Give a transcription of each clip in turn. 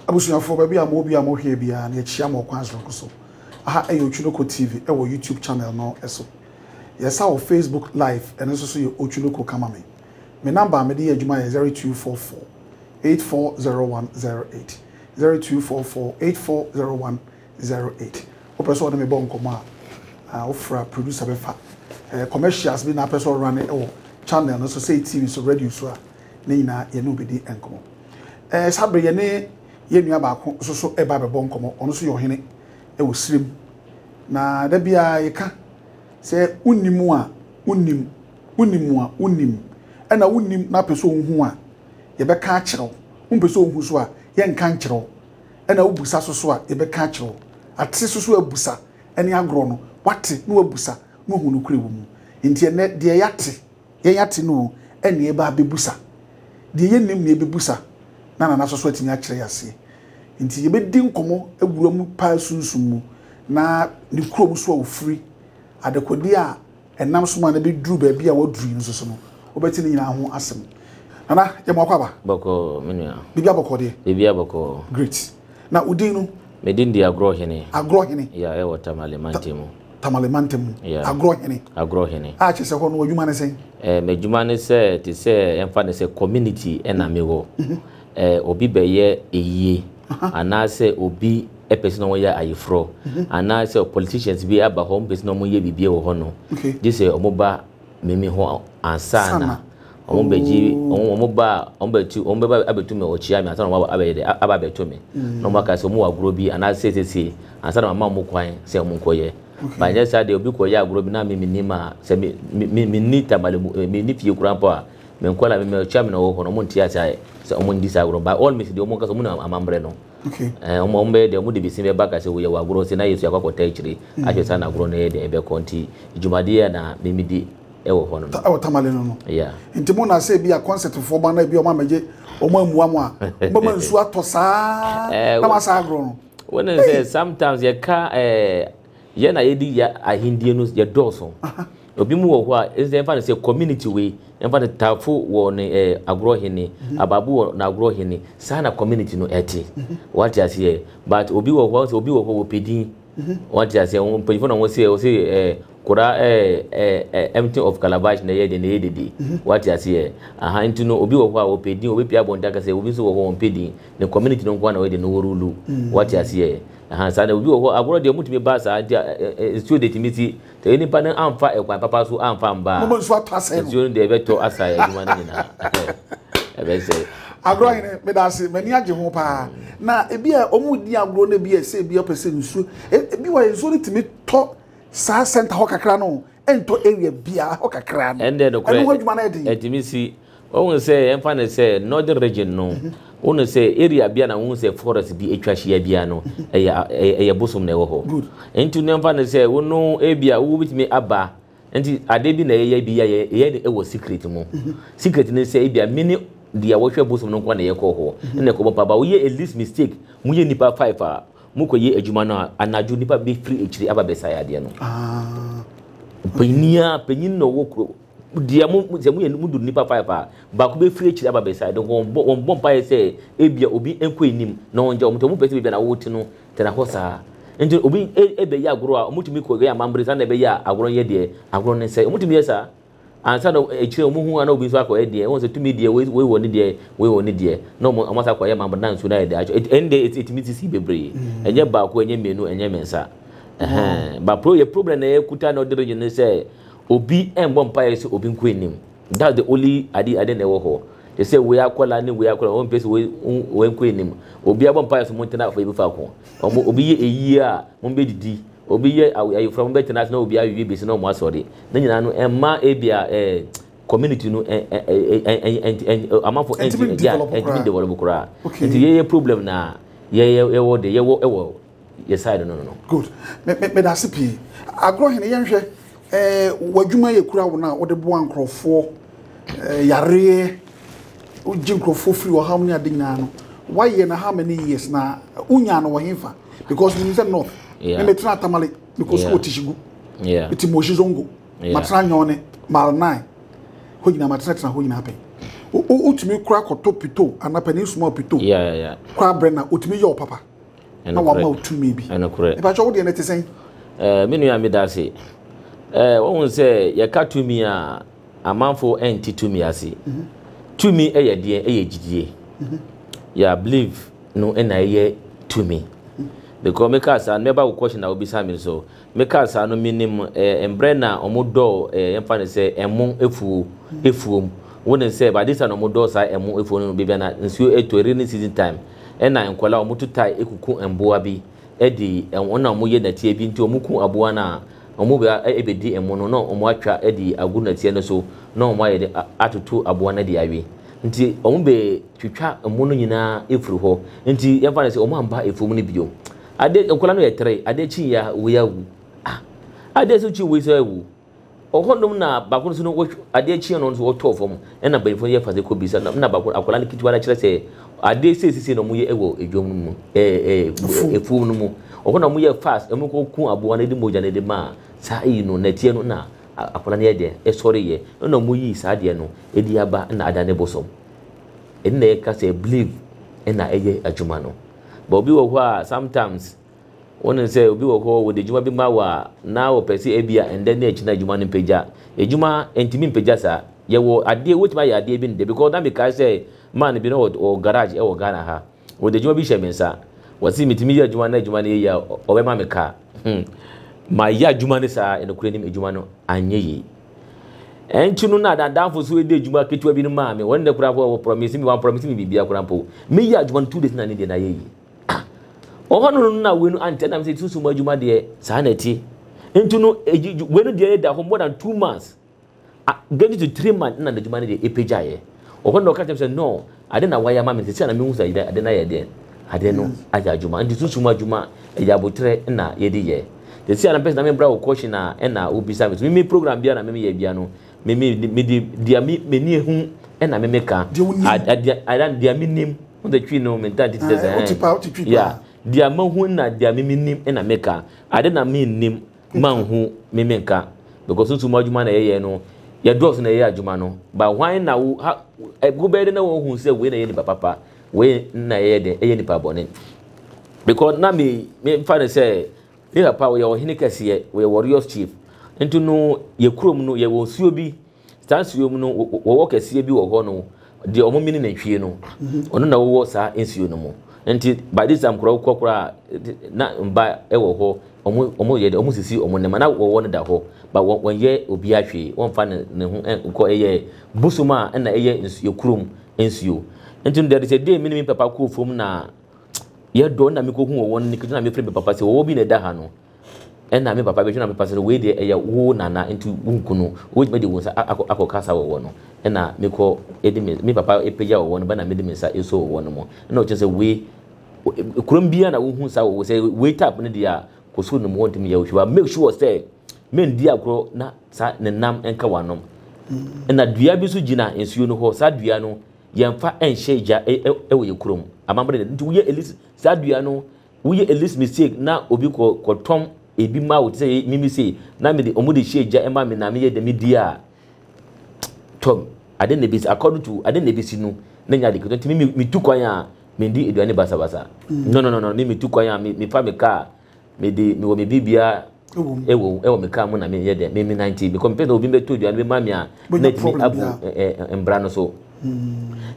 Abusuafoɔ, baabi a mo wɔ biara mo hwɛɛ biara no yɛ kyia mo ɔkwan soronko so. Aha yɛ Otwunoko TV wɔ YouTube channel no so. Yɛ sa wɔ Facebook live ɛno nso so yɛ Otwunoko kama me. Me number a me de yɛ adwuma yɛ zero two four four eight four zero one zero eight, zero two four four eight four zero one zero eight. Wo pɛ sɛ ɔne me bɔ nkɔmɔ a ah wo fra producer bɛ fa eh commercials bi na apɛ sɛ ɔrane ɛwɔ channel no so sɛ TV so radio so a ne nyinaa yɛ ne wo bɛ di nkɔmɔ. Ɛɛ, saa bere yɛne yɛn nua baako nso so reba abɛbɔ nkɔmmɔ. Ɔno nso yɛ ɔhene wɔ Sirem. Na da biara yɛka sɛ wonni mu a wonnim, wonni mu a wonnim. Ɛna wonnim na wopɛ sɛ wuhu a, yɛbɛka akyerɛ wo. Wompɛ sɛ wuhu nso a, yɛnka nkyerɛ wo. Ɛna wobisa so so a, yɛbɛka akyerɛ wo. Ate so so abusa ne agorɔ no, woate na woabusa na woahu nokorɛ wɔ mu. Enti ɛnnɛ, deɛ yɛate Yɛn ate no o, ɛnneɛ yɛba abɛbusa. Deɛ yɛnnim no yɛbɛbusa na Nanaso so atumi akyerɛ yɛn aseɛ. Nti yɛbɛdi nkɔmmɔ awura mu paa sunsum mu na ne kurom so a ɔfiri, adekodeɛ a ɛnam so maa no bɛduru baabi a waduru yi nso so no, wobɛte ne nyinaa ho asɛm. Nana, yɛ mmoa kɔ aba? Bɔkɔɔ, me nua. Biribiara bɔkɔɔ deɛ? Biribiara bɔkɔɔ. Great. Na wo din no? Me din de Agorɔhene. Agorɔhene. Yeah, ɛwɔ Tamale mantam mu. Tamale mantam mu, agorɔ hene. Agorɔ hene. A kyerɛ sɛ hɔ no w'adwuma ne sɛn? Ɛɛ m'adwuma ne sɛ te sɛ ɛmfa ne sɛ community ɛna me wɔ. Mhm. Ɛɛ obi bɛyɛ eyie anaasɛ obi ɛpɛ sɛ na wɔn yɛ ayeforɔ mhm. anaasɛ politicians bi aba hɔ wɔn pɛ sɛ na wɔn yɛ biribi wɔ hɔ no. Gye sɛ wɔn ba mimi ho ansa na. Wɔn bɛgye wɔn wɔn ba a wɔn bɛtu wɔn bɛba abɛtu mi ɔkyia mi ansa na wɔn abɛyɛ dɛ aba abɛto mi na wɔn aka sɛ wɔn wɔ agorɔ bi anaa siesie ansa na wɔn ama wɔn kwan sɛ wɔn nkɔ yɛ ba nyɛ saa deɛ obi kɔ yɛ agorɔ bi na mi mi nim a sɛ mi mi mi ni tamale mu mi ni fie kura mpo a mi nkɔ na mi mi ɔkyia mi na wɔwɔ hɔ na wɔn nti ase ayɛ sɛ wɔn ndi saa agorɔ ba wɔn mi si deɛ wɔn kasa wɔn na amammerɛ no ɛɛ wɔn wɔn bɛyɛ deɛ wɔn de bi si bɛ ba kasa wɔyɛ wɔ agorɔ si na yɛ so akɔ akɔta akyire ahwɛ saa na agorɔ no yɛ deɛ ɛbɛkɔ nti dwumadie yɛ na mi mi di. ɛwɔ hɔ no no. Ɛwɔ tamale no no. Yeah. Nti mo na sɛ bi a concert fo ba na bi ɔmo amegye ɔmo amua mo a ɔmo ma nsu atɔ saa eh, na ma saa agorɔ no. Wɔn n sɛ sometimes yɛ ka ɛɛ eh, yɛ na yɛ di yɛ ahendie no yɛ dɔɔso. Obi mu wɔ hɔ a ɛsɛ ɛnfa ne sɛ community wei ɛnfa ne taafo wɔ ne ɛɛ eh, agorɔ hene mhm. abaabo wɔ na agorɔ hene saa na community no ɛte. Mhm. Wɔate aseɛ but obi wɔ hɔ sɛ obi wɔ hɔ wɔ pedin. Wate aseɛ, wɔn mpanyinfoɔ na wɔn sɛ wɔn sɛ ɛɛ kora ɛɛ ɛɛ empty of calabash na ɛyɛ deɛ na ɛyɛ dede. Wate aseɛ, aha nti no obi wɔ hɔ a ɔpɛ din ɔbɛpie abɔnten aka sɛ obi nso wɔ hɔ wɔn mpɛ din ne community no nko ara na wɔyɛ deɛ na wɔrulu. Wate aseɛ, aha saa na obi wɔ hɔ agorɔ deɛ wɔn ntumi ba saa nti a nsuo deɛ tumi si Sɛ onipa no amfa ɛkwan papa so amfa amba a, nsuo no deɛ ɛbɛtɔ asa adwuma no nyinaa. Ɛbɛsɛe. Agorɔ hene, meda ase, m'ani agye ho paa. Na ebi a wɔn di agorɔ no ebi a ɛsɛ ebi ɔpɛ sɛ nsuo. Ebi wɔ nsuo no tumi tɔ saa center hɔ kakra no, ɛntɔ area biara hɔ kakra no. Ɛndeɛ nokorɛ, ɛno ho adwuma no yɛ den. Ɛtumi si. Wohu sɛ yɛmfa no sɛ northern region no, wohu sɛ area bia na wohu sɛ forest bi atwa hyia bia no, ɛyɛ ɛyɛ bosom na ɛwɔ hɔ. Nti no yɛmfa no sɛ wo no ebia wobɛtumi aba nti adeɛ bi na yɛyɛ bi yɛ yɛyɛ no ɛwɔ secret mu. Secret no sɛ ebia mini deɛ wɔhwɛ bosom no nkoa na yɛkɔ hɔ na ɛkɔbɔ mpa ba woyɛ a least mistake moyɛ nnipa five a mokɔyɛ adwuma no a anadwo nnipa bɛfiri akyiri aba bɛsae adeɛ no. Panyin a panyin na ɔwɔ kuro Deɛ mo, sɛ moyɛ, modu nnipa five a, baako bɛfiri akyiri aba besae de wɔn bɔ, wɔn bɔ mpaeɛ sɛ ebia obi nkɔ anim na wɔngya wɔn nti wɔn pɛ sɛ baabi a na wɔte no tena hɔ saa. Nti obi ɛbɛyɛ agorɔ a wɔtumi kɔ yɛ amambere saa na ɛbɛyɛ a agorɔ no yɛ deɛ agorɔ no nsɛe. Wɔtumi yɛ saa ansa na akyire wɔn hu ana obi nso akɔ yɛ deɛ wɔn sɛ tumi deɛ wei wɔ ne deɛ wei wɔ ne deɛ na wɔn wɔn asa kɔ yɛ amambere na nsuo no ayɛ deɛ atwa ɛti ɛnde ɛti ɛtumi sisi bebree ɛnyɛ baako ɛnyɛ mmienu ɛnyɛ mmiɛnsa ɛhɛn ba pro yɛ problem na ɛkuta na ɔde regye ne sɛ Obi mmɔ mpaeɛ sɛ obi nkɔ anim. That's the only ade ade na ɛwɔ hɔ. Te sɛ wei akwadaa ne wei akwadaa, wɔn mpɛ sɛ wei wɔn nkɔ anim. Obi abɔ mpaeɛ sɛ wɔn ntena afɔ ebi faako. Wɔn obi yɛ ayie a wɔn bɛ didi. Obi yɛ ayefra wɔn bɛ tena ase na obi awie besi na wɔn asɔre. Ne nyinaa no ɛma ebi a ɛɛ community no ɛ ɛ ɛ ɛ ɛ amanfo ɛnti ɛdi a ɛntumi develop koraa. Nti yɛyɛ problem na yɛyɛ yɛwɔ de yɛwɔ ɛwɔ. yɛ side no no no. good me me meda ase pii agorɔ hene yɛnhwɛ ɛɛ eh, w'adwuma yɛ kura wo no a wode boa nkurɔfoɔ ɛɛ eh, yareɛ wogye nkurɔfoɔ firi wɔ ham ne ade nyinaa no woayɛ no how many years na wonya no wɔ hefa because menim sɛ north me metena atamale mekɔ sukuu wɔ tihyigu ɛti mɔhyi zongo matena nyɔne mile nine hɔ nyinaa matenatena hɔ nyinaa pɛn wotumi kora kɔtɔ pito anaa panin suma pito kora berɛ na wotumi yɛ wo papa na wama wo tumi bi. Ɛpakyɛ wo deɛ no te sɛn? Eh, me nua meda ase. Eh, wohu sɛ yɛka tumi a amanfo ɛnte tumi ase. Mhm. Tumi ɛyɛ deɛ ɛyɛ gyidie. Mhm. Ya believe no ɛna ɛyɛ tumi. Mhm. Because meka saa no mɛba wo question a wobisa me so. Mekaa saa no menim eh mbrɛ na ɔmo dɔɔ eh yɛmfa no sɛ ɛmo efuo efuom wonim sɛ by this time na ɔmo dɔɔ saa ɛmo efuo no bebia na nsuo etɔ rainy season time ɛna nkɔlaa ɔmo to tae ekuku mboa bi ɛde ɛmo na ɔmo yɛ nɛteɛ bi nti ɔmo ku aboa no a ɔmo ba ɛbedi ɛmo no na ɔmo atwa ɛde agu nɛteɛ no so na ɔmo ayɛ de atoto aboa no ɛde awe nti ɔmo bɛ twitwa ɛmo no nyinaa efiri hɔ nti yɛmfa no sɛ ɔmo amba efuom no biom. Ade nkwadaa no yɛ tere ade kyi yɛ a wei awu ah ade nso kyi wei nso awu ɔhɔ nom na baako nso no wɔhwɛ ade kyi no nso wɔtɔ fam ɛna bɛnfo yɛ fase kɔ bisa na na baako akwadaa no ketewa no kyerɛ sɛ ade sɛ sisi na wɔn yɛ ɛwɔ edwom no mu ɛɛ ɛɛ efuom no mu ɔhɔ na wɔn yɛ fast wɔn kɔ kun aboa no de mogya no de ma saa eyi no na tie no na akwadaa no yɛ deɛ ɛsɔre yɛ ɛna wɔn yi saa deɛ no edi aba na ada ne bosom ɛna ɛka sɛ believe ɛna ɛyɛ adwuma no. But obi wɔ hɔ a sometimes wonim sɛ obi wɔ hɔ wɔde adwuma bi ma wo a na wɔpɛ sɛ ebia ɛndɛ ne akyina adwuma no mpagya. Adwuma ntumi mpagya saa. Yɛwɔ adeɛ wotumi ayɛ adeɛ bi nnɛ because na mekae sɛ man bi na ɔwɔ garage ɛwɔ Ghana ha. Wɔde adwuma bi hyɛ me nsa. Wɔsi metumi yɛ adwuma na adwuma no yɛ yie a ɔbɛma me car. Hmm. Mayɛ adwuma no saa nokorɛ nim adwuma no anyɛ yie. Ɛnti no na adandamfo so edi adwuma ketewa bi no maa me. Wɔn nnɛ koraa mpo wɔ promise me, wɔn promise me biribiara koraa mpo. Meyi adwuma no two days na ne deɛ na yɛ yi. Ah, ɔhɔ no no na wei no antɛ na me sɛ susu mu adwuma deɛ saa na ɛte. Ɛnti no wei no deɛ ɛda hɔ more than two months. Ah, getting to three months na adwuma no deɛ ɛpagyaeɛ. Ɔhɔ no na ɔka kyerɛ me sɛ no, Ade na wayɛ ama me sɛsi a na mehu sɛ ade no ayɛ deɛn? Ade no ayɛ adwuma. Nti sunsum adwuma ɛyɛ aboterɛ na yɛde yɛ. Sɛsi a na mpɛ sɛ na membra wo question a ɛna wobisa me so. Me me program biara na me meyɛ biara no me me mede deɛ me m'ani ahu ɛna me meka. Deɛ deɛ menim. Wohu sɛ twi no mentaa nti te sɛ sɛ ɛɛ. Yeah. Deɛ mahu na deɛ me menim ɛna meka. Ade na mennim. ma nhu me me nka because wotu mu adwuma na yɛyɛ no yɛdɔɔso na yɛyɛ adwuma no ba hwan na wo ha wobɛyɛ dɛ na wɔhu sɛ wei na yɛ nipa papa wei na yɛyɛ dɛ ɛyɛ nipa bɔne because na me me mfa no sɛ ne papa wɔyɛ ɔhene kɛseɛ wɔyɛ warriors chief nti no yɛ kurom no yɛwɔ nsuo bi Saa nsuo mu no, wɔwɔ kɛseɛ bi wɔ hɔ no, deɛ wɔn mini nantwie no, ɔno na wɔwɔ saa nsuo no mu. Nti by this time koraa wokɔ koraa na mba wɔ hɔ, wɔn wɔn yɛ dɛ, wɔn sisi wɔn nneɛma na wɔwɔ no da hɔ, ba wɔn wɔnyɛ obiara hwee, wɔnfa ne ne ho nkɔ ɛyɛ bosom a ɛna ɛyɛ nsuo kurom nsuo. Nti no there is a day me ne me papa kɔɔ fam na yɛdɔ na mekɔhu wɔn ne kɛtɛ na mefrɛ me papa sɛ wɔwɔ bi na ɛda ha no, Ɛna me papa bɛhwɛ na mepa sɛ wei deɛ ɛyɛ wo nana nti wo nku no wobɛtumi de wo nsa akɔ kasa wɔ wɔ no ɛna me kɔ ɛdi me me papa ɛpagya wɔ wɔ no bɛna mede me nsa ɛsɔ wɔ wɔ no mo ɛna ɔkyɛ sɛ wei kurom bia na wohu sa wɔ wɔ sɛ wei tap no deɛ kɔ soro nom wɔntumi yɛ wohwɛ ba make sure sɛ mendi agorɔ na sa ne nam ɛnka wanom ɛna dua bi nso gyina nsuo no hɔ saa dua no yɛmfa ɛnhyɛ gya ɛwɔ yɛ kurom amammerɛ nti woyɛ ɛlis saa dua no Woyɛ elist mistake na obi kɔ kɔ tɔn ebi ma wo te sɛ me me sei na me de ɔmo de hyɛ gya ɛma me na me yɛ dɛ me di a tɔm ade na ebesi according to ade na ebesi no na nya ade ketewa nti me me tu kwan a me di aduane basa basa no no no no me me tu kwan a me me fa me kaa me de me wɔ me bi bia ɛwɔ ɛwɔ me kaa mu na me yɛ dɛ me me nante because me pɛ sɛ obi bɛ to aduane bɛ ma me a na etimi abu ɛɛ mbra no so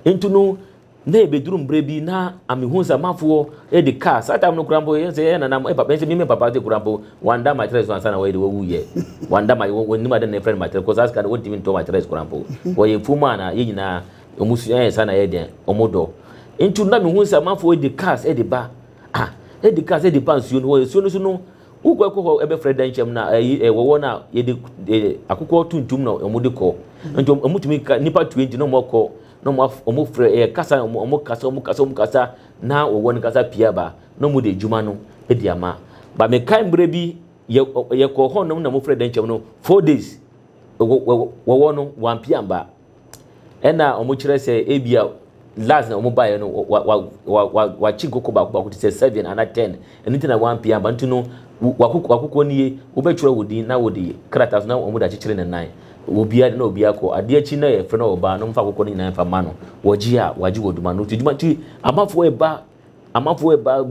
nti no Na ebeduru mbrɛ bi na amehu sɛ amanfoɔ de car, saa time no koraa mpo yɛn sɛ yɛyɛ nana mo, papa, yɛn sɛ me me papa de koraa mpo wanda mattress no ansa na wɔyɛ de wɔwu yɛ, wanda ma, wɔnnim ade na yɛfrɛ no mattress, kɔ saa sika no wɔntumi ntɔ mattress koraa mpo, wɔyɛ afuom a na yɛn nyinaa wɔn su ɛyɛ saa na yɛyɛ deɛ wɔn dɔ, nti na mehu sɛ amanfoɔ de cars de ba, ah, de cars de ba nsuo no hɔ, nsuo no so no, wokɔ ɛkɔ hɔ ɛbɛfrɛ dɛnkyɛm na ɛyi ɛwɔ hɔ na yɛde akokɔ tuntum na wɔn de kɔ, nti wɔn wɔn tumi ka nipa tue nti na wɔn kɔ. na wɔn af wɔn frɛ ɛyɛ kasa wɔn wɔn kasa wɔn kasa wɔn kasa na wɔwɔ ne kasa pii aba na wɔn de adwuma no de ama ba mekae mmerɛ bi yɛ yɛkɔ hɔ nom na wɔn frɛ dɛnkyɛm no four days wɔ wɔwɔ no wɔn apia mba ɛna wɔn kyerɛ sɛ ebi a last na wɔn baeɛ no wa wa wa wa wakyi nkoko baako baako te sɛ seven ana ten. Ɛno nti na wampue amba nti no, w'akokoɔ nie, wobɛtwerɛ wo din na wode krataa so na wɔn de akyekyere ne nan. Obiara de na obiara kɔ adeɛ akyi na yɛfrɛ no ɔbaa no mfa akokoɔ no nyinaa mfa ma no. Wɔgye a, wɔagye wɔ dwuma no. Nti dwuma nti amafoɔ ɛba amafoɔ ɛba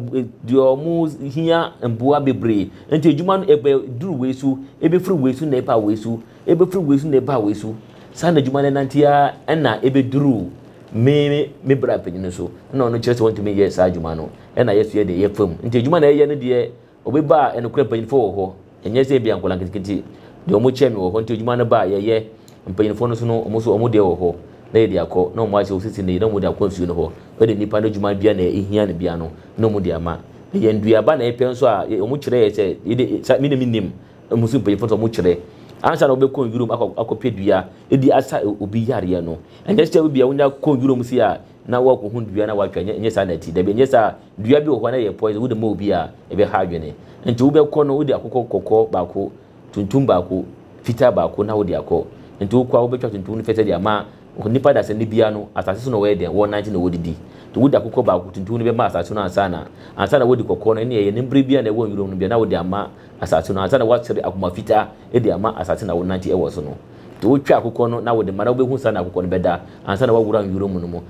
deɛ wɔn hia mboa bebree. Nti adwuma no ɛbɛ duru wei so, ɛbɛfiri wei so na ɛba wei so, ɛbɛfiri wei so na ɛba wei so. Saa na adwuma no ɛnante ara ɛna ɛbɛduru me me bra panin no so. Ɛna ɔno kyerɛ sɛ ɔntumi nyɛ saa adwuma no. na yɛsoɛ deɛ ɛyɛ fam. Nti adwuma na yɛyɛ no deɛ obi ba a nokorɛ mpanyinfoɔ wɔ hɔ. Ɛnyɛ sɛ ebia nkwadaa nketenkete deɛ wɔn kyɛn me wɔ hɔ nti adwuma no ba a yɛyɛ. Mpanyinfoɔ no nso no wɔn nso wɔn deɛ wɔ hɔ na yɛde akɔ na wɔn ayɛ sɛ wɔsisi no yie na wɔde akɔ nsuo no hɔ. Wei deɛ nipa no adwuma biara na ehia no biara no na wɔde ama. Ɛyɛ nnuaba na yɛpɛ nso a wɔn kyerɛ yɛ sɛ yei deɛ saa me deɛ me nnim wɔn so mpanyinfoɔ nso wɔn kyerɛ ansa na wɔbɛkɔ nwura mu akɔ akɔpɛ dua de asa obi yareɛ no. Ɛnyɛ sɛ ebia wonya kɔ nwura mu sei a na woakohu dua na woatwa, ɛnyɛ saa na ɛte. Dabi, ɛnyɛ saa. Dua bi wɔ hɔ na ɛyɛ poison, wode ma obi a, ɛbɛha adwene. Enti wobɛkɔ no, wode akokɔ kɔkɔɔ baako, tuntum baako, fitaa baako na wode akɔ. Enti wokɔ a, wobɛtwa tuntum no fɛfɛ de ama nnipa dasani biara no. Asase so na wɔyɛ dɛn? Wɔnante na wɔdidi. Enti wode akokɔ baako, tuntum no bɛma asase no ansa na, ansa na woadi kɔkɔɔ no, ɛnneɛ ɛyɛ ne bere biara na ɛwɔ nwuram no biara na wode ama asase no, ansa na woasere akoma fitaa de ama asase na wonante wɔ so no. Nti wotwa akokɔ no na wode ma na wobɛhu saa na akokɔ no bɛda ansa na woawura nwura mu no mu.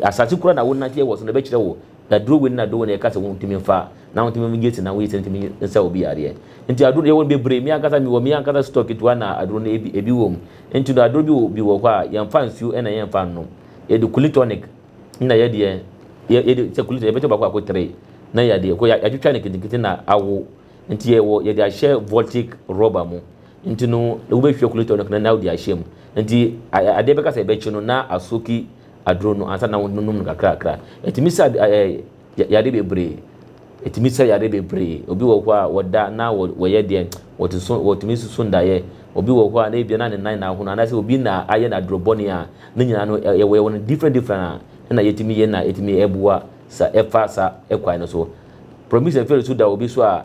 Asase koro a na wonanteɛ wɔ so no ɛbɛkyerɛ wo aduro wei ne aduro wei na yɛka sɛ wontumi mfa na wontumi mgye sɛ na woyɛ sɛ ntumi nsa obi yareɛ. Nti aduro no yɛwɔ no bebree, me ankasa mewɔ me ankasa store ketewa na aduro no ebi ebi wɔ mu. Nti no aduro bi wɔ bi wɔ hɔ a yɛmfa nsuo ɛna yɛmfa nnom. Yɛde Kulin tonic na yɛ deɛ yɛ yɛde sɛ Kulin tonic yɛbɛkyɛ baako baako three na yɛadeɛ kɔ yɛatwitwa no nketenkete na awo. Nti yɛwɔ yɛde ahyɛ voltic rubber mu. Nti no wobɛhwie kulator no kena na wode ahyɛ mu. Nti adeɛ bɛka sɛ ɛbɛkye no na asoki aduro no ansa na wononom no kakrakra. Ɛtumi sa yadeɛ bebree. Ɛtumi sa yadeɛ bebree. Obi wɔ hɔ a wɔda na wɔyɛ deɛ wɔte so wɔtumi susu ndaeɛ. Obi wɔ hɔ a na ebia na ne nan na ahono anaasɛ obi na ayɛ no aduro bɔne a ne nyinaa no yɛwɔ yɛwɔ no different different a ɛna yɛtumi yɛ na ɛtumi ɛboa sa ɛfa sa ɛkwan no so. Promise Afeare nso da obi so a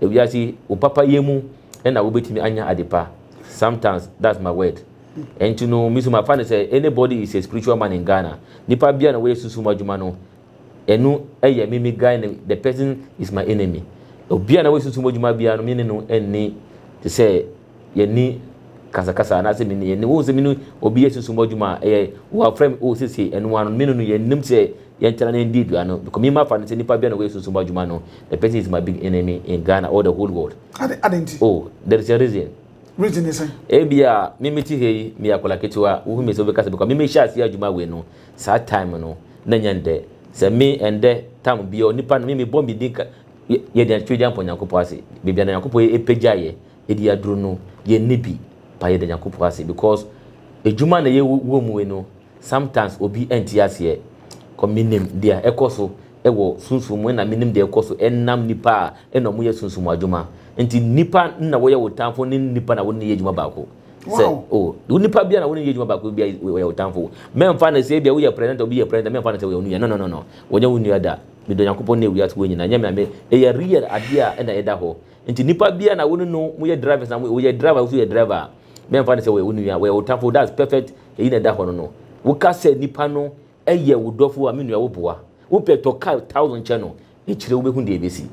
Ewiase wo papa yɛ mu na wo bɛtumi anya ade pa sometimes that's my word ɛnti no me so ma fa no sɛ any body is a spiritual man in Ghana nipa bia na wɔyɛ sunsum adwuma no ɛno yɛ me me guy no the person is my enemy obia na wɔyɛ sunsum adwuma bia no me ne no ɛnni te sɛ yɛne kasakasa anaasɛ me ne yɛne wohu sɛ me ne obi yɛ sunsum adwuma a ɛyɛ wɔafrɛ me wɔ sese ɛno ano me no no yɛnnim sɛ yɛntena na yɛndi aduane no because mema fa no sɛ nipa bia na wɔyɛ sunsum adwuma no the person is my big enemy in Ghana or the whole world ade ade nti oh there is a reason reason ne sɛn ebia me meti ha yi meyɛ akwadaa ketewa wohu me sɛ wobɛka sɛ because me mehyɛ aseɛ adwuma wei no saa time no na nyɛ ndɛ sɛ me ɛndɛ tam bia onipa no me mebɔ me din yɛde atwitwe de ampɔ nyankopɔn ase bebia na nyankopɔn ɛpɛgyaeɛ edi aduro no yɛ nni bi pa yɛda nyankopɔn ase because adwuma na yɛ wɔ mu yi no sometimes obi anti aseɛ kɔ menim deɛ ɛkɔ so ɛwɔ sunsum mu ɛna menim deɛ ɛkɔ so ɛnam nipa a ɛna ɔmo yɛ sunsum adwuma nti nipa na wɔyɛ wo tamfo ne nipa na wɔne yɛ adwuma baako sɛ o wo nipa bia na wɔne yɛ adwuma baako bia wɔyɛ wo tamfo mɛmfa ne sɛ bia woyɛ president obi yɛ president mɛmfa ne sɛ wɔyɛ wo nua no no no no wɔnyɛ wo nua da medɔ nyankopɔn ne wiase wɔ nyina nyɛ me ame ɛyɛ real adeɛ a ɛna ɛda hɔ Nti nipa biaa na wone no mo yɛ drivers na mo yɛ driver woso yɛ driver a me nfa ne sɛ wɔyɛ wo nua wɔyɛ wo tafo that's perfect eyi na ɛda hɔ no no wo ka sɛ nipa no yɛ wo dɔfo a me nua wo boa wo pɛ tɔ car thousand kyɛ no ekyire wo bɛ hu deɛ ebesi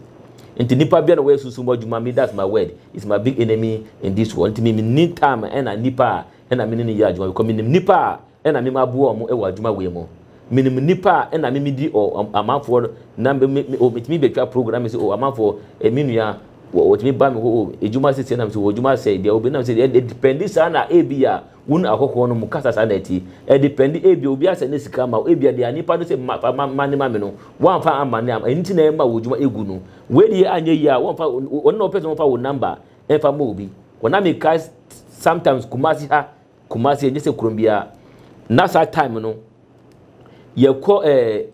nti nipa biaa na wɔyɛ sunsum mu adwuma me that's my word is my big enemy in this world nti me me ni time ɛna nipa a ɛna me ne no yɛ adwuma because me nim nipa a na me maboa wɔn wɔ adwuma wei mu. Menim nnipa a na me medi o amanfoɔ no na me me o metumi betwa program me sɛ o amanfoɔ eh, me nua wɔtumi ba me hɔ o adwuma sisi nam sɛ wɔ adwuma sɛ deɛ obi nam sɛ deɛ ɛdependi saa na ebi a wɔn ahɔhoɔ no mu kasa saa na ɛti ɛdependi ebi obi asɛ ne sika ma ebi deɛ nipa no sɛ ma fa ma ma ne ma me no wɔnfa ama ne ama ɛnti na ɛma wɔ adwuma egu no wei deɛ anyɛ yie a wɔnfa wɔn na wɔpɛ sɛ wɔnfa wɔn namba ɛnfa ma obi wɔn na meka sometimes kumasi ha Kumasi ɛnyɛ sɛ kurom biara na saa time no yɛkɔ ɛɛ eh,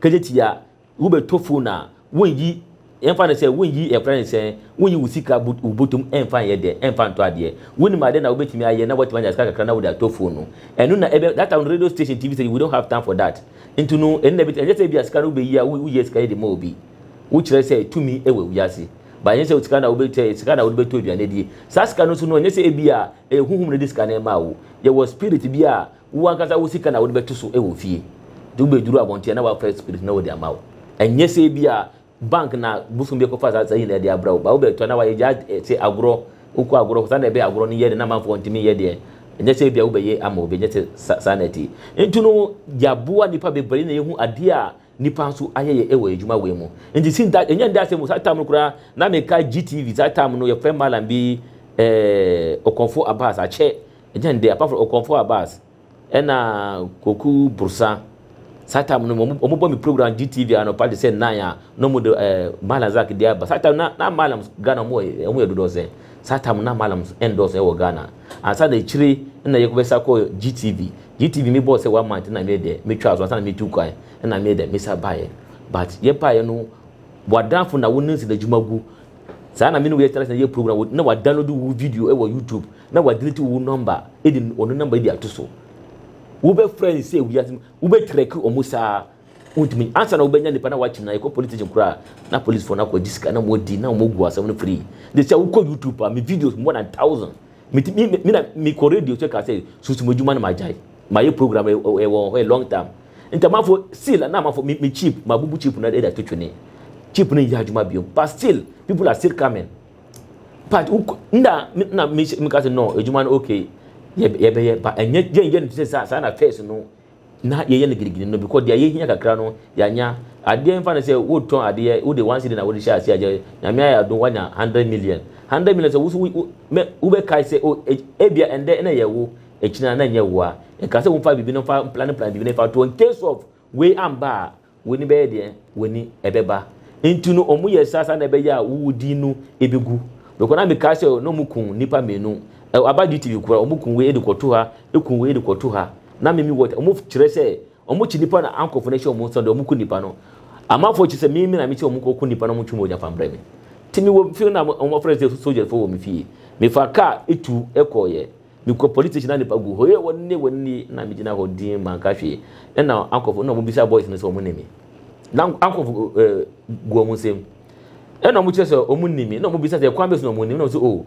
kejeti a wobɛtɔ phone a wonyi ɛmfa no sɛ wonyi ɛfrɛ no sɛ wonyi wo sika wo botom ɛmfa nyɛ dɛ ɛmfa ntɔ adeɛ wonim adeɛ na wobɛtumi ayɛ na woatumi anya sika kakra na wode atɔ phone no ɛno na ɛbɛ that time no radio station tv station we don't have time for that nti no ɛno na ɛbɛtumi ɛnyɛ sɛ bi a sika no wobɛyi a woyɛ sika yɛ de ma obi wokyerɛ sɛ tumi ɛwɔ wiase ba ɛnyɛ sɛ sika na wobɛtɛ sika na wode bɛtɔ aduane adie saa sika no nso no ɛnyɛ sɛ ebi a Ɛyɛ honhom na ɛde sika no rema wo. Yɛwɔ spirit bi a wo ankasa wo sika na wode bɛto so wɔ fie. Nti wobɛduru abɔnten a na wɔafrɛ spirit na wɔde ama wo. Ɛnyɛ sɛ ebia bank na bosom bi akɔfa saa saa nyinaa de abrɛ wo. But wobɛtɔ na wɔayɛ gyaa te agorɔ. Wokɔ agorɔ hɔ saa na ɛbɛyɛ agorɔ no yɛ den na amanfoɔ ntumi nyɛ deɛ ɛnyɛ sɛ ebia wobɛyɛ ama obi. Ɛnyɛ sɛ saa na ɛte. Nti no yɛaboa nnipa bebree na yɛhu adeɛ a Nnipa nso ayɛyɛ wɔ adwuma wei mu. Nti since that, ɛnyɛ nnɛ asɛm mu, saa time no koraa, na mekae GTV, saa time no yɛfrɛ Mallam bi eh, Okonfo Abbas, akyɛ, ɛnyɛ nnɛ, apart from Okonfo Abbas, ɛna Koku Brosa, saa time no wɔn wɔn bɔ me program GTV anɔpa te sɛ nnan a, na wɔn de eh, Mallam Zak de aba, saa time na na Mallam Ghana wɔn yɛ wɔn yɛ dodoɔ sɛn, saa time no na Mallam ɛndɔɔso wɔ Ghana, ansa na akyire na yɛkɔbɛsa kɔɔ GTV. GTV me bɔɔ sɛ one month na me deɛ me twaa so ansa na me tu kwan ɛna me deɛ me sa baeɛ but yɛ baeɛ no wadanfo na wo ne nsɛn adwuma gu saa na me ne wo yɛ tena sɛ yɛ program na wa download wo video ɛwɔ YouTube na wa delete wo number ɛdi ɔno number ɛdi ato so wo bɛ frɛ ne sɛ wiase wo bɛ trek ɔmo saa wontumi ansa na wobɛnya nipa na wakyim na yɛkɔ police station koraa na policefoɔ no akɔgye sika na wɔdi na wɔgu asɛm no free de sɛ wokɔ youtube a me videos more than thousand Me ti me me na me kɔ radio kyɛ ka sɛ susu mo adwuma no ma gyae. Ma yɛ program ɛ ɛ wɔn hɔ a long time. Ntamafo seal na amafo me me chip ma bubu chip no ɛda to twene. Chip no nyɛ adwuma biom but still people are still coming. But wo na me na me me ka sɛ no adwuma no okay yɛ yɛbɛyɛ but ɛnyɛ yɛnyɛ no te sɛ saa saa na first no na yɛyɛ no girigiri no because deɛ yɛhia kakra no yɛanya adeɛ mfa no sɛ wotɔn adeɛ wode one cedi na wode hyɛ aseɛ agya nyame ayɛ adom wanya hundred million hundred million sɛ woso wobɛkae sɛ o ebia ɛndɛ ɛna ɛyɛ wo ɛkyina na ɛnyɛ wo a nka sɛ womfa biribi no mfa plan plan biribi no fa to in case of wei amba a W'ani bɛyɛ deɛn? W'ani ɛbɛba. Nti no ɔmo yɛ saa saa na ɛbɛyɛ a wo wo din no ebegu. Bɛkɔ na me kaa sɛ na ɔmo kun nnipa mmienu. Ɛ aba GTV koraa ɔmo kun wei de kɔ to ha, ekun wei de kɔ to ha. Na me me wɔ ɔmo kyerɛ sɛ ɔmo kyi nnipa na ankɔfo no hyɛ ɔmo nso deɛ ɔmo ku nnipa no. Amanfoɔ kyi sɛ me me na me sɛ ɔmo nkɔ ku nnipa na ɔmo ntwe mogya fa mbrɛ me. Nti me wɔ fie na ɔmo afrɛ sɛ sogyafo wɔ me fie. Me fa kaa etu ɛkɔɔyɛ. Mekɔ police station na nipa gu hɔ ee wɔne wɔne na megyina hɔ din manka hwee ɛna ankɔfo na wɔbisa boys no sɛ wɔn ne me na ankɔfo ɛɛ eh, gu wɔn nsam ɛna wɔkyerɛ sɛ wɔn ne me na wɔbisa sɛ kwan bɛsi na wɔn ne me na wɔn sɛ o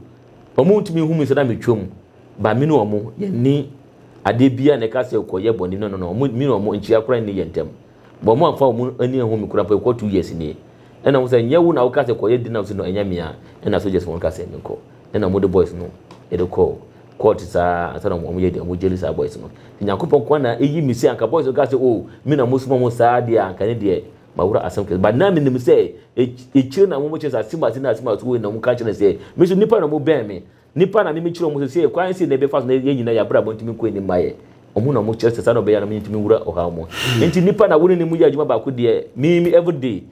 wɔn ntumi hu mi sɛ na metwam ba me ne wɔn yɛn ni adeɛ bia na ɛka sɛ kɔyɛ bɔne no no no wɔn mi ne wɔn nkyia koraa nni yɛn ntam But ɔmo anfa ɔmo ani anhu me koraa mpo ɛkɔ two years nie. Ɛna ɔmo sɛ nyɛ wo na wo ka sɛ kɔ yɛ dna ɔmo se no ɛnyɛ me a ɛna soldiers no ka sɛ me nkɔ ɛna ɔmo de boys no de kɔ court saa ansa na ɔmo yɛ dna ɔmo gyeli saa boys no nti Nyankopɔn nkoa na eyi me se anka boys no ka sɛ oh me na mo soma ɔmo saa deɛ a anka ne deɛ mawura asɛm kɛse but na me nim sɛ ekyire na ɔmo kyerɛ sɛ asim ase na asim ase wei na ɔmo ka kyerɛ sɛ me nso nipa na ɔmo bɛn me Nnipa na mimi kyerɛ wɔn sɛ sɛ kwan sei na yɛbɛfa so na yɛn nyinaa yɛn abrabɔ ntumi nkɔ anim ma yɛn. Wɔn na wɔkyerɛ sɛ saa na wɔbɛyɛ a na mentumi nwura ɔhaw mu. Enti nnipa na wɔne ne mu yɛ adwuma baako deɛ mimi everyday.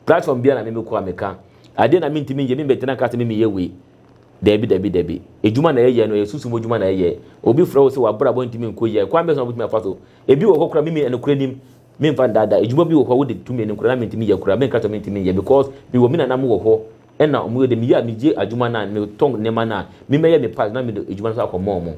Platform biara na mimi kɔ a meka. Adeɛ na mentumi nyɛ, membɛtena nka sɛ mimi yɛ wei. Dabi, dabi, dabi. Adwuma na yɛyɛ no, ɛyɛ sunsum mu adwuma na yɛyɛ. Obi frɛ wo sɛ w'abrabɔ ntumi nkɔ yie a, kwan bɛn so na wobɛtumi afa so? Ebi wɔ hɔ koraa mimi nokorɛ nim, memfa nnaadaa, adwuma bi wɔ hɔ a wode tumi anim koraa na mentumi nyɛ koraa, menka sɛ mentumi nyɛ because mewɔ me nananom wɔ hɔ, Ɛna ɔmo yɛ dɛ, meyɛ a megye adwuma no a, metɔn nneɛma no a, me mɛyɛ me part na mede adwuma no nso akɔma ɔmo.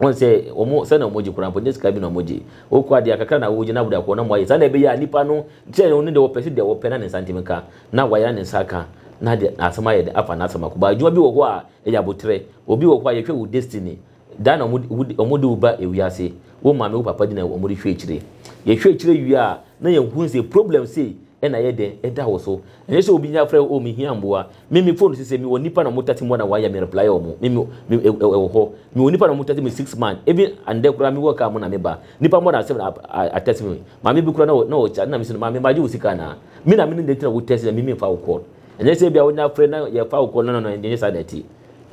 Wɔn sɛ ɔmo, sɛnea ɔmo gye koraa mpo, nyɛ sika bi na ɔmo gye. Wokɔ adeɛ a, kakra na wogye na wode akɔ hɔ na moayɛ. Sɛnea ɛbɛyɛ a nipa no, sɛ ɔno deɛ ɔpɛ sɛ deɛ ɔpɛ na ne nsa ntumi nka, na wayɛ na ne nsa aka, na deɛ asɛm ayɛ dɛ, afa n'asɛm akɔ. But adwuma bi wɔ hɔ a, ɛyɛ aboterɛ. Obi wɔ hɔ a, yɛhwɛ wo destiny, Da na wɔde wo ba wiase, wo maame wo papa di na wɔde hwɛ akyire. Yɛhwɛ akyire wie a na yɛhu sɛ problem sei na ayɛ dɛn ɛda wo so. Ɛnyɛ sɛ obi afrɛ wo oh me hia mmoa, me me phone sesɛ me wɔ nnipa na wɔn tate mmoa na wɔayɛ me reply wɔn, me me ɛwɔ hɔ, me wɔ nnipa na wɔn tate me six months, even ɛndɛ koraa me wɔ car mu na me ba, nnipa more than seven a text me, maame bi koraa na ɔkyɛ ade na me se no maame magye wo sika anaa? Me na me ne nti na wo text na me me mfa wo call. Ɛnyɛ sɛ ebia wo ne afrɛ na yɛfa wo call no no no ɛnyɛ saa na ɛte.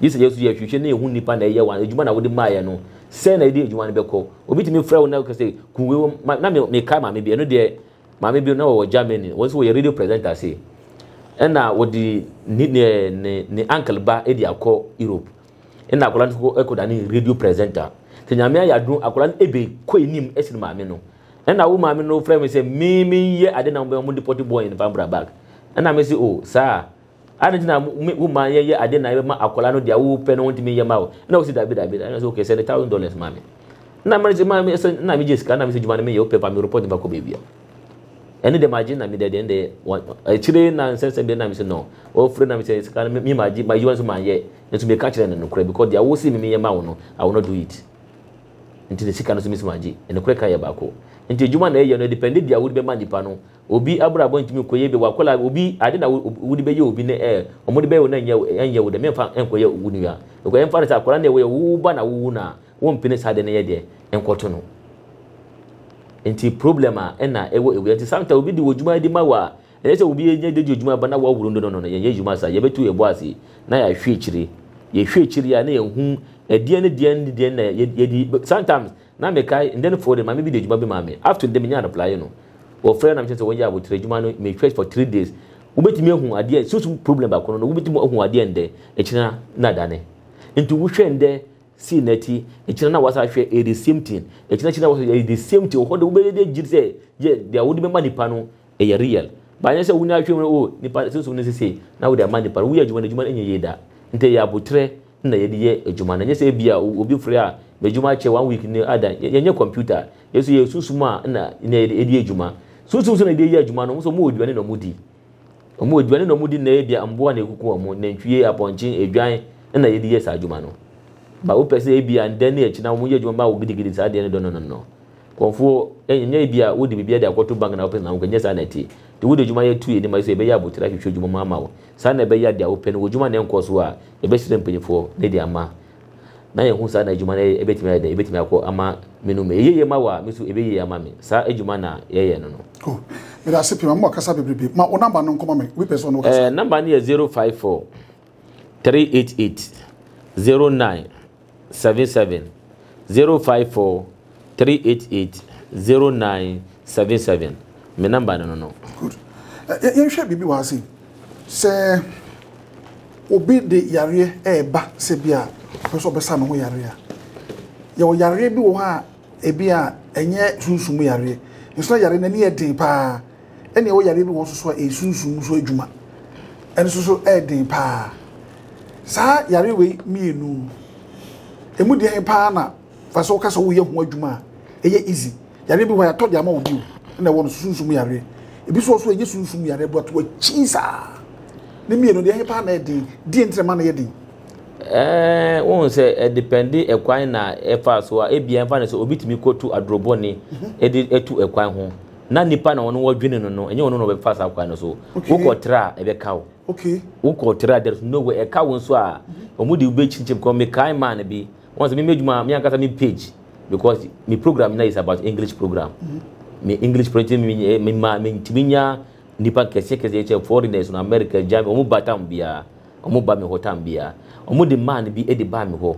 Gye sɛ yɛn nso yɛhwehwɛ na yehu nnipa na ɛyɛ wɔn adwuma na wode maeɛ no. Sɛn na yɛde adwuma no bɛkɔ? Obi tumi frɛ wo na ɔka sɛ, Ku wei wom. Ma, na me, mekae maame bi, ɛno deɛ, maame bi na ɔwɔ Germany, wɔn nso wɔyɛ radio presenter ase. Ɛna wɔde ne, ne, ne, ne uncle ba de akɔ Europe. Ɛna akwadaa no kɔ, kɔda ne radio presenter. Sɛ nyame ayɛ adom, akwadaa no ebe, kɔ anim sen maame no. Ɛna wo maame no frɛ me sɛ, me, menyɛ ade na wɔn de pɔte bɔn no fa mbra back. Ɛna mese, oh, saa a. Adɛn nti na wo mma yɛyɛ ade na ɛbɛma akwadaa no deɛ wopɛ no wontumi nyɛ ma wo? Ɛna wosi dabi dabi dabi. Ɛna sɛ okay sɛnde thousand dollars ma me. Na mma sɛ ma sɛ na megye sika na mesɛ dwuma no meyɛ wopɛ pa me report nipa kɔ baabi a. Ɛne deɛ magye na me deɛ deɛ ɛnde akyire na nsɛ sɛ deɛ na mesɛ no. Wɔfrɛ na mesɛ sika no me magye ma adwuma nso manyɛ. Nso meka kyerɛ no nokorɛ because deɛ wosi me meyɛ ma wo no I will not do it. Nti ne sika no nso mesi magye. Nokorɛ ka yɛ baako. Nti adwuma na ɛyɛ no ɛdepɛnde deɛ wode bɛma nipa no. Obi abrabɔ ntumi nkɔ yie, bi a wakɔla a obi ade na wode bɛyɛ obi ne ɛɛ wɔn de bɛyɛ wo na ɛnyɛ ɛnyɛ wo dɛ menfa nkɔyɛ wo nua because ɛmfa no sɛ akɔla na ɛwɔ wo ba na wowu no a wompene saa ade no yɛ deɛ nkɔto no nti problem a ɛna ɛwɔ ewia nti sometimes obi de wɔ dwuma de ma wo a ɛyɛ sɛ obi yɛ de di dwuma ba na wɔaworo no no no yɛnyɛ dwuma saa yɛbɛtu yɛbɔ ase na yɛahwɛ akyire yɛhwɛ akyire a na yɛhu ɛdeɛn ne deɛn ne deɛn na yɛdi sometimes Na mekae, ndɛn fɔɔ dɛ maame bi de edwuma bi maa me, up to ndɛ minyaa replye no, wɔfrɛɛ na mekyerɛ sɛ wɔyɛ aboterɛ edwuma no, me hwɛ for three days, wobetumi ahu adeɛ, sunsum problem baako no no wobetumi ahu adeɛ ndɛ, ekyena na adane, nti wo hwɛ ndɛ see nɛti, ekyena na wasa ahwɛ ɛyɛ the same thing, ekyena akyi na wasa ɛyɛ the same thing, ɔhɔ de wobɛyɛ de agyi sɛ yɛ deɛ wode bɛma nipa no ɛyɛ real, but anyɛ sɛ wo na ahwɛ mu oh nipa sunsum no sesei na wode ama nipa no, woyɛ adwuma no adwuma no nyɛ yie da, nti ɛyɛ aboterɛ na yɛde yɛ adwuma no ɛnyɛ sɛ ebia obi frɛ a m'adwuma akyɛ one week ni adan yɛnyɛ computer a yɛ nso yɛyɛ sunsum a na na yɛde edi adwuma sunsum nso na yɛde yɛ adwuma no wɔn nso wɔn wɔ aduane na wɔn di wɔn wɔ aduane na wɔn di na ebia mmoa na ekuku wɔn nantwie apɔnkye adwan na yɛde yɛ saa adwuma no ba wopɛ sɛ ebia ndɛ ne ɛkyina wɔn yɛ adwuma ba wɔ gidigidi saa deɛ no dɔ no no no. Nkurɔfoɔ, ɛnyɛ ebia wode biribi ade akɔto bank na wopɛ sɛ wokɔ, ɛnyɛ saa na ɛteɛ. Nti wode adwuma yɛ to yɛanim ase sɛ yɛbɛyɛ abotire ahwehwɛ adwuma mu ama wo. Saa na ɛbɛyɛ a deɛ wopɛ no, w'adwuma no nkɔɔ so a, yɛbɛsrɛ mpanimfoɔ na yɛde ama, na yɛahu saa na adwuma no bɛtumi ayɛ dɛn, ɛbɛtumi akɔ ama me no mu. Ɛyɛ yie ma wo a, me nso ɛbɛyɛ yie ama me. Saa adwuma na yɛyɛ no no. Oh, meda ase pii, ma mo kasa bebrebe. Ma wo number no nkɔma me, obi pɛ sɛ ɔne wo kasa. Eh, number no yɛ zero five four three eight eight zero nine seven seven zero five four three eight eight zero nine seven seven me number no no no. good ɛ yɛnhwɛ biribi wɔ ha sei sɛ obi de yareɛ ɛɛba sɛ bi a ɔpɛ sɛ ɔbɛsa ne ho yareɛ a yɛwɔ yareɛ bi wɔ hɔ a ebi a ɛnyɛ sunsum yareɛ nso na yareɛ no ani yɛ den paa. ɛne ɛwɔ yareɛ bi wɔ nso so a ɛyɛ sunsum nso adwuma ɛno nso so ɛyɛ den paa saa yareɛ wei mmienu ɛmu deɛn paa na fa sɛ woka sɛ woyɛ ho adwuma a ɛyɛ easy yareɛ bi hɔ yɛatɔ de ama wo bio ɛna ɛwɔ no so sunsum yareɛ ebi so so ɛnyɛ sunsum yareɛ but wakyi saa ne mmienu deɛ paa na ɛyɛ den deɛ ntina ma no yɛ den Eh, wohu sɛ ɛdepɛnde eh, ɛkwan na ɛfa eh, so a ebia ɛmfa ne sɛ obi tumi kɔtu adorobɔne mhm. de atu ɛkwan ho na nipa na ɔno wɔdwene no no ɛnyɛ ɔno na ɔbɛfa saa kwan no so wokɔ tra a ɛbɛka wo wokɔ tra there is no way ɛka wo nso a wɔn de wobɛkyinkyim kɔ mekae maa no bi wɔn sɛ meme adwuma me ankasa me page because me program na is about english program me english program me me ma me ntumi nya nipa kɛseɛ kɛseɛ kyɛ foreigners no america germany wɔn ba tam biara wɔn ba me hɔ tam biara wɔn de maa no bi de baa me hɔ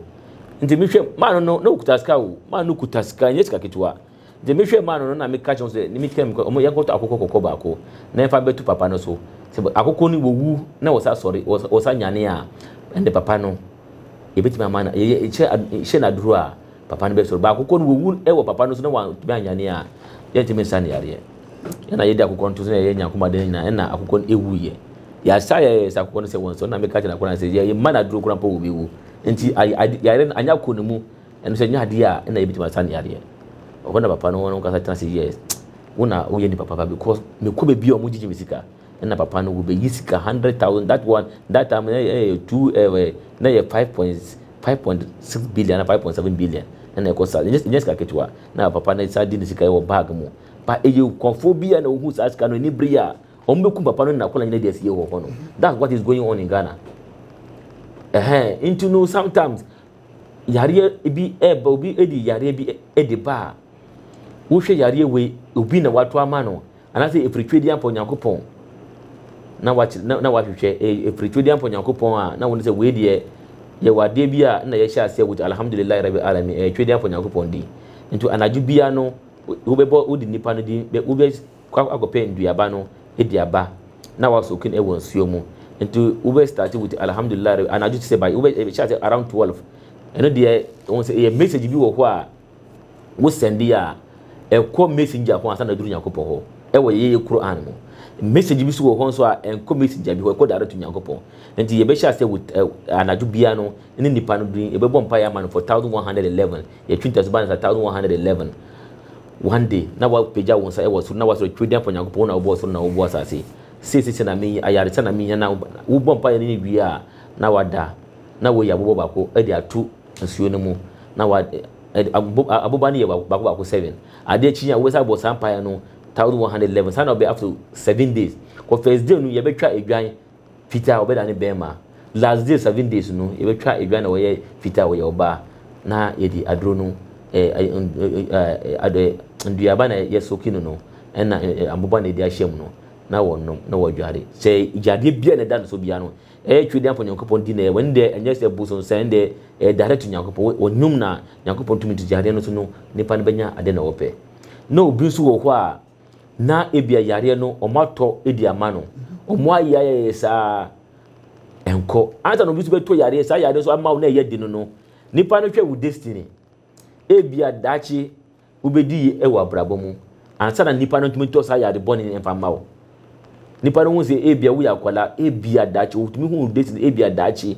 nti mehwɛ maa no no na okuta sika o maa no kuta sika nyɛ sika ketewa Dze mehwɛɛ mu ano no na mekã kyerɛɛ hɔn dɛ, Nimi tam kɔ, yɛnkɔtɔ akokɔ kɔkɔɔ baako na yɛmfa mbɛto papa no so. Sɛ akokɔ no wowu na wɔsan sɔre, wɔsan nyanee a, nna papa no, yebetumi ama no, yɛhyɛ no aduru a, papa no bɛsɔre. But akokɔ no wowu wɔ papa no so na ɔanntumi annyane a, yɛnntumi nsa no yareɛ. Nna yɛde akokɔ no to so na yɛyɛ nyanko mu ade no nyina, nna akokɔ no wuiɛ. Yɛasa a yɛayɛ sɛ akokɔ no sɛ wɔnsɔre no na mekã kyerɛɛ akokɔ no ara sɛ, Yɛmma no aduru koraa mpo a obewu. Ntsi yareɛ no annyɛ akɔ no mu. Ɛno sɛ ɛnyɛ adeɛ a na yɛbɛtumi asa ne yadeɛ. Ɛhɔ na papa no wɔn ankasa tena ase yɛɛ wo na woyɛ nipa papa because mekɔ baabi a wɔgyegye me sika na papa no wɔbɛyi sika hundred thousand that one that time na ɛyɛ two ɛɛ na ɛyɛ five point five point six billion na five point seven billion na ɛkɔ saa ɛnyɛ ɛnyɛ sika ketewa na papa no saa di ne sika wɔ bag mu ba ɛyɛ nkɔfoɔ bi a na wɔhu saa sika no ani bere a wɔn bɛkum papa no na akɔla nyina de asie wɔ hɔ no that's what is going on in Ghana ɛhɛn nti no sometimes yareɛ bi ɛba obi ɛdi yareɛ bi ɛdi ba a wohwɛ yareɛ wei obi na wato ama no anaasɛ ɛfiri twɛdi ampa onyankopɔn na wakyerɛ na na wahwehwɛ ɛfiri twɛdi ampa onyankopɔn a na wɔn sɛ wei deɛ yɛwɔ adeɛ bi a na yɛhyɛ aseɛ wɔ alhamdulilayi rabi alami ɛyɛ twɛdi ampa onyankopɔn di nti anadwo bia no wobɛbɔ wodi nipa no din wobɛ kɔ akɔpɛ nduaba no edi aba na wa soak no wɔ nsuo mu nti wo bɛ start with alhamdulillah rɛ anadwo te sɛ by wo bɛ hyɛ ase around twelve ɛno deɛ wɔn sɛ ɛyɛ message bi wɔ hɔ a wo send a ɛkɔ messenger ho ansa na duru nyankopɔ hɔ ɛwɔ yɛ yɛ Quran mu message bi so wɔ hɔ nso a ɛnkɔ messenger bi hɔ ɛkɔ direct to nyankopɔ nti yɛ bɛ hyɛ ase with anadwo bia no ne nipa no duru yɛ bɛ bɔ mpa yɛ ama no for thousand one hundred eleven yɛ twinta so ba no sa thousand one hundred eleven One day, na woapagya wo nsa wɔ soro na woasrɛ, Twerɛdin Afa Onyankopɔn, wo na wobɔɔ soro na wobɔɔ asase. Sei seesei na meyi, ayaresa na mehia na wobɔ mpaeɛ no ne wie a, na woada, na woayi aboba baako de ato nsuo no mu, na wa, aboba no yɛ baako baako seven. Adeɛ kye yi a, wobɛsan abɔ saa mpaeɛ no thousand one hundred eleven. Saa na ɔbɛyɛ after seven days. Wɔ first day no, yɛbɛtwa adwan Fitaa a wɔbɛda no bɛɛma. Last days, seven days no, yɛbɛtwa adwa na wɔyɛ fitaa a wɔyɛ ɔbaa na yɛde aduro no, nduaba na yɛ soki no no ɛna aboba na yɛde ahyɛ mu no na wɔnom na wɔdware. Sɛ gyadeɛ biara na ɛda no so biara no, ɛyɛ Twɛdeɛ mfa Nyankopɔn di na wɔn deɛ ɛnyɛ sɛ bosonsan ɛnde ɛyɛ direct to Nyankopɔn. Wɔnom na Nyankopɔn tumi nti gyadeɛ no so no nipa no bɛnya adeɛ na ɔpɛ. Na obi nso wɔ hɔ a na ebia yareɛ no wɔn atɔ de ama no wɔn ayɛ ayɛyɛ saa nkɔ ansa na obi nso bɛtɔ yareɛ saa yareɛ nso ama wo na ɛyɛ de no no nipa no hwɛ wo destiny ebia daakye wobɛdi yi wɔ abrabɔ mu ansa na nipa no ntumi ntɔ saa yare bɔne mfa mma wo Nnipa no hu sɛ ebia woyɛ akwadaa, ebia daakye wotumi hu date no, ebia daakye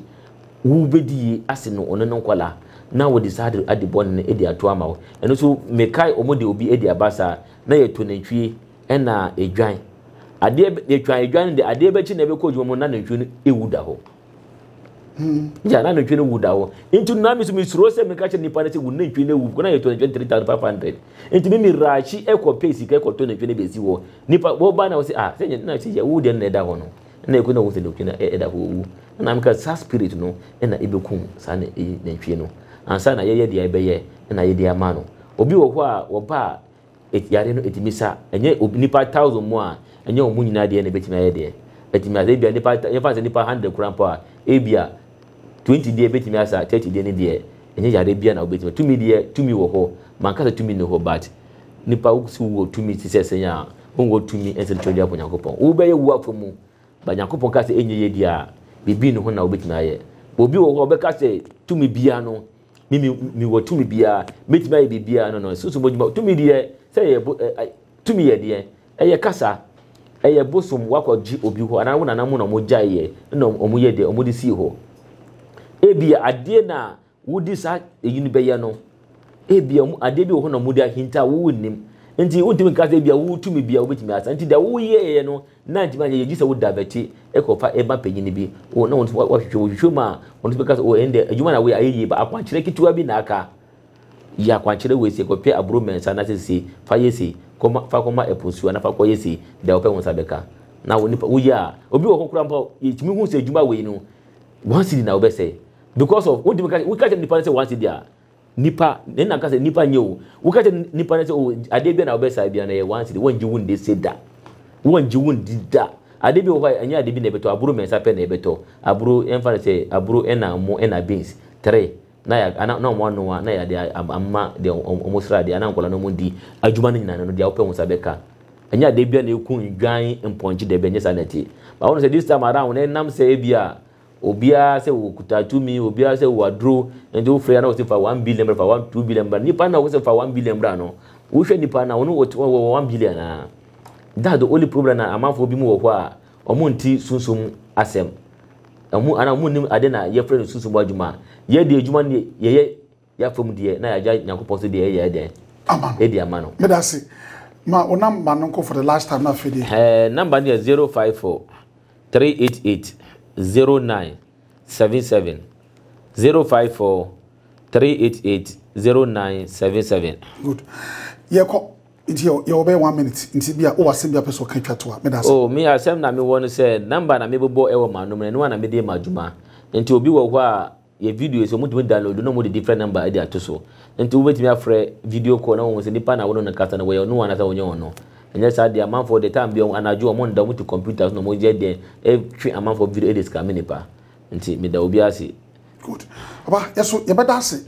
wobɛdi yie ase no ɔno ne nkwadaa na wɔde saa ade ade bɔne no de ato ama wo. Ɛno nso mekae wɔn de obi de aba saa na yɛto nantwie ɛna edwan. Adeɛ yɛtwa edwan no de adeɛ bɛkye na ɛbɛkɔ adwuma mu na nantwie no ewu da hɔ. Hmm. ya na nantwie no wu da hɔ nti na mi so mi suro sɛ mi ka kyerɛ nipa no sɛ wu nantwie no wu kɔ na yɛ tɔ nantwie no three thousand five hundred nti mi mi raakyi ɛkɔ pay sika ɛkɔ tɔ nantwie no bɛsi hɔ nipa wɔba na wɔsi ah sɛ nyɛ na sɛ yɛ wu deɛ na ɛda hɔ no na ɛkɔ na wɔn sɛ nantwie no ɛda hɔ owu na mi ka saa spirit no ɛna ɛbɛkum saa na ɛyi nantwie no ansa na yɛyɛ deɛ ɛbɛyɛ ɛna yɛde ama no obi wɔ hɔ a wɔba a Et yare no etumi sa. Ɛnyɛ ob nnipa thousand mu a, ɛnyɛ wɔn nyinaa deɛ na ebetumi ayɛ deɛ. Etumi asa ebia nnipa ta yɛmfa no sɛ nnipa hundred koraa mpo a, ebia twenty deɛ ebetumi asa, thirty deɛ ne deɛ, ɛnyɛ yareɛ biara na wobetumi. Tumi deɛ, tumi wɔ hɔ. Manka sɛ tumi nni hɔ but nnipa wo se wowɔ tumi te sɛ sɛn a, wonwɔ tumi ɛnsa betumi de apo Nyankopɔn. Wobɛyɛ wo afa mu but Nyankopɔn ka sɛ ɛnyɛ yie deɛ a, biribi nni ho na wobetumi ayɛ. Obi wɔ hɔ a ɔbɛka sɛ tumi biara no, Me, me, me wɔ tumi biara. Mɛtumi ayɛ biribiara. No, no. Susu bɔdwuma. Tumi deɛ, sɛ ɛyɛ bo, ɛ, tumi yɛ deɛ. Ɛyɛ kasa. Ɛyɛ bosom wakɔ gye obi hɔ. Anaa wo nana mu na wɔn gyae yɛ. Ɛna wɔn yɛ deɛ, wɔn de sii hɔ. Ebia adeɛ na wodi saa eyi no bɛyɛ no. Ebia wɔn adeɛ bi wɔ hɔ na wɔn de ahinta wo nnim. Nti wontumi nka sɛ ebia wo tumi bia wobɛtumi asa. Nti deɛ woyɛɛyɛ no na antumi anyɛ yie gye sɛ wo diverte kɔ fa ma panyin bi o na wɔn nso wɔhwehwɛ wɔhwehwɛ mu a wɔn nso bɛka sɛ o ɛnde adwuma na wɔyɛ ayɛ yie ba akwankyerɛ ketewa bi na aka yɛ akwankyerɛ wei sɛ kɔpɛ aburo mmiɛnsa na sɛ sei fa yɛ sei kɔma fa kɔma ɛpo nsuo na fa kɔyɛ sei deɛ wɔpɛ wɔn nsa bɛka na wɔn nipa woyɛ a obi wɔ hɔ koraa mpo yɛtumi hu sɛ adwuma wei no one cedi na wɔbɛsɛe because of wɔntumi ka wɔka kyerɛ nipa no sɛ one cedi a Nipa, ne na ka sɛ nipa nyɛ o. Woka kyɛ nipa no sɛ o adeɛ bia na wobɛsa bia na yɛ one city. Wɔngye wo nde se da. Wɔngye wo ndi da. Adeɛ bi wɔ hɔ a ɛnyɛ adeɛ bi na ɛbɛtɔ. Aburo mmiɛnsa pɛ na ɛbɛtɔ. Aburo, yɛmfa no sɛ aburo ɛna ɛmo ɛna beans. Three, na yɛ ana na wɔn anoa na yɛde ama deɛ wɔn sra deɛ ana nkwadaa no wɔn di. Adwuma no nyinaa no deɛ wopɛ wo nsa bɛka. Ɛnyɛ adeɛ bia na ɛku nnwan mpɔnkye dabi ɛnyɛ saa na ɛteɛ. But wohu sɛ this time around no ɛnam sɛ ebia Obiara sɛ ɔkuta tumi, obiara sɛ ɔwɔ aduro, nti wofrɛ a na wɔsi fa one billion bra, fa one two billion bra. Nipa na wɔsi fa one billion bra no, wohwɛ nipa na ɔno ɔwɔ one billion a? That's the only problem na amanfoɔ bi mu wɔ hɔ a wɔnte sunsum asɛm. Wɔn anaa wɔn nim ade na yɛfrɛ no sunsum adwuma. Yɛn deɛ adwuma no deɛ yɛyɛ yɛn afa mu deɛ na yɛagya nyankopɔn so deɛ yɛyɛ yɛ dɛn ama no ɛdi ama no meda se ma wo namba no nkɔ for the last time na afei deɛ ɛɛ namba no yɛ 054 388 0977 054 388 0977 good yɛkɔ nti yɛwɔ bɛyɛ one minute nti bi a wowɔ asɛm bi a pɛ sɛ ɔka twa to a meda se oh me asɛm na mewɔ no sɛ namba na mebobɔ ɛwɔ m'anom no ɛno a na mede ma adwuma nti obi wɔ hɔ a yɛ videos, wɔtumi download na wɔde different number de ato so. Nti wobɛtumi afrɛ video call na wɔhu sɛ nipa na wo ne no kasa no wɔyɛ ɔno anaasɛ wɔnyɛ ɔno. Ɛnyɛ saa deɛ amanfoɔ deɛ time bi anadwo wɔn nda wɔn te computer so na wɔn yɛ deɛ ɛtwe amanfoɔ video de scam nipa. Nti meda obi ase. Good. Aba, yɛso yɛbɛda ase.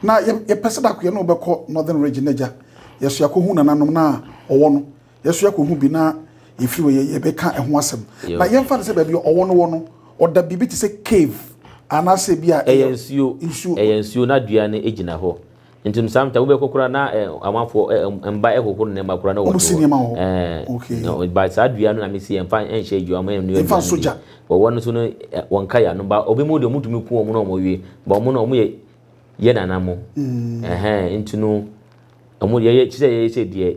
Na yɛpɛ sɛ dako yɛne wo bɛkɔ Northern Region agya. Yɛso yɛakɔhu nananom no a ɔwɔ no. Yɛso yɛkɔhu bi na yɛfiri hɔ yɛbɛka ɛho asɛm. Na yɛmfa no sɛ baabi a ɔwɔ no wɔ no, ɔda biribi te sɛ cave anaasɛ bi a ɛyɛ nsuo. nsuo. Ɛyɛ nsuo na dua no gyina hɔ. Nti no sometimes wobɛkɔ koraa na amanfoɔ mba ɛhohoro nneɛma koraa na wɔn de wɔ. Wɔsi nneɛma wɔ hɔ. Ɛɛ. Okay. Na but saa dua no na mesi yɛmfa nhyɛ adwuma mu. Yɛmfa nso gya. But wɔn nso no wɔn nka yɛ ano. But obi mu deɛ wɔn tumi ku wɔn na wɔn wie. But wɔn no wɔn yɛ yɛ nana mo. Ɛhɛn nti no wɔn yɛyɛ kyerɛ yɛyɛ sɛ deɛ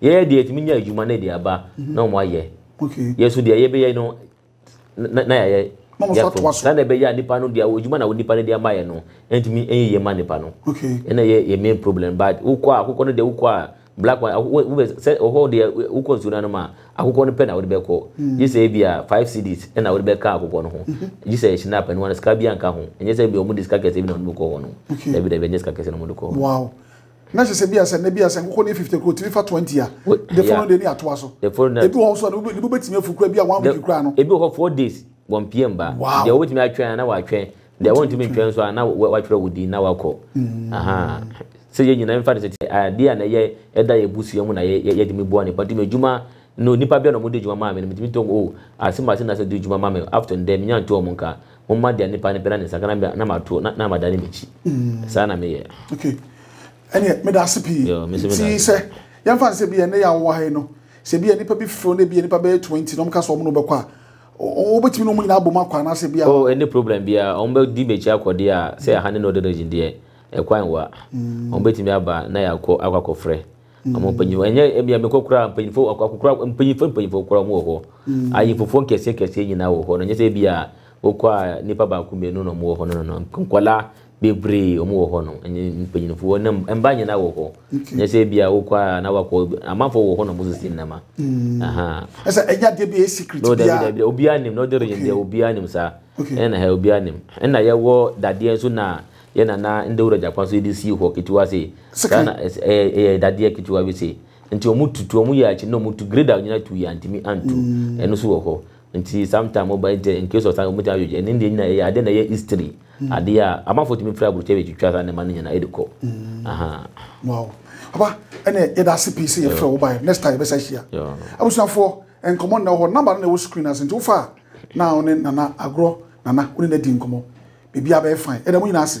Yɛyɛ deɛ yɛtumi nya adwuma na ɛde aba na wɔn ayɛ. Yɛ nso deɛ yɛbɛyɛ no na yɛayɛ. Na wɔn nso atoa so. Sɛdeɛ ɛbɛyɛ a nipa no deɛ adwuma na nipa no de ama yɛ no ntumi nyɛ yie ma nipa no. Ɛna yɛ yɛ main problem but wokɔ a akokɔ no deɛ wokɔ a black one wobɛ sɛ ɔhɔ deɛ wokɔ nsuo no anom a akokɔ no pɛ na wode bɛkɔ gye sɛ ebi a five cedis ɛna wode bɛka akokɔ no ho gye sɛ ɛhyɛ n'apɛ no ano sika bi anka ho ɛnyɛ sɛ ebi a wɔn de sika kɛse bi na wɔn de kɔ hɔ no dabi dabi ɛnyɛ sika kɛse na wɔn de kɔ hɔ. Na ɛsɛ sɛ bi asɛ na bi asɛ nkokɔ ne fifty kura otumi fa twenty a. The following day ne atoa so. The following day. Ebi wɔ hɔ so ne bo betumi afu kura bi a one week kura no. Ebi wɔ hɔ four days wɔn pm ba. Wow. Deɛ wobɛtumi atwɛn na watwɛn. Deɛ wɔntumi ntwɛn nso a na watwerɛ wo din na wakɔ. Sɛ yɛn nyinaa mfa no sɛ adeɛ a na yɛ ɛda yɛ busua mu na yɛde mi boa nipa nti mi adwuma no nipa bia na wɔn de adwuma maa mi no mi tumi tɔ mu o ase ma ase na sɛ de adwuma ma mi after ndɛ mi nya nto wɔn nka. Momma deɛ nipa no pɛ na ne nsa ka na na mato na na madane m'akyi. Saa na meyɛ. Okay. Ɛneɛ meda ase pii. Yo, me nso meda Nti ase. sɛ yɛmfa no sɛ bi a ɛnɛ yɛ a wowɔ ha yi no, sɛ bi a nipa bi feel na bi a nipa bɛyɛ 20 na wɔn ka sɛ wɔn na wɔbɛkɔ a, wɔ- wɔ- wobɛtumi ne wɔn nyinaa abom akɔ anaasɛ bi a Oh, ɛnni problem biara. Wɔn bɛdi m'akyi akɔ deɛ a, sɛ ɛha ne Northern Region deɛ, ɛkwan wɔ a, wɔbɛtumi aba na yɛakɔ akɔ akɔfrɛ. Ɔmo mpanyinfo ɛnyɛ ebi a mekɔ koraa mpanyinfo akokora mpanyinfo mpanyinfo koraa ɔmo wɔ hɔ. Mm. Ayinfofoɔ nkɛseɛ nkɛseɛ nyinaa wɔ hɔ no nyɛ sɛ ebi a wokɔ a nipa baako mmienu na ɔmo wɔ hɔ no no no nkɔla bebree ɔmo wɔ hɔ no ɛnyɛ mpanyinfoɔ ne mba nyinaa wɔ hɔ. Nyɛ sɛ ebi a wokɔ a na wakɔ amanfoɔ wɔ hɔ na ɔmo sisi nnɛma. Mm. Ɛsɛ ɛnyɛ adeɛ bi a ɛyɛ secret bia. No dabi dabi obiara nim na ɔde region deɛ obiara nim saa. Ɛna ha obiara nim. Ɛna yɛwɔ dadeɛ nso na yɛ na na Ndawura Gyakwa so de sii hɔ ketewa sei. Saa na ɛyɛ dadeɛ ketewa bi sei. Nti wɔn tutu, wɔn yɛ akyi na wɔn tu grade a wɔnyina tu yɛ antumi antu. Ɛno so wɔ hɔ. Nti sometime wɔba yi nti in case of saa wɔn ti ayɛ dwodwo. Ɛne deɛ nyina ɛyɛ adeɛ na ɛyɛ history. Adeɛ a amanfoɔ tumi firi aburokyire bɛtwitwa saa nneɛma no nyina de kɔ. Wow. Papa, ɛne yɛda ase pii sɛ yɛfrɛ wo baeɛ. Next time yɛbɛsa hyia. Abusuafoɔ, nkɔmmɔ nnɛ wɔ hɔ. Number no na ɛwɔ screen no ase nti wofa a na wo ne Nana agorɔ Nana wo ne no adi nkɔmmɔ biribiara bɛyɛ fine yɛda mo nyinaa ase.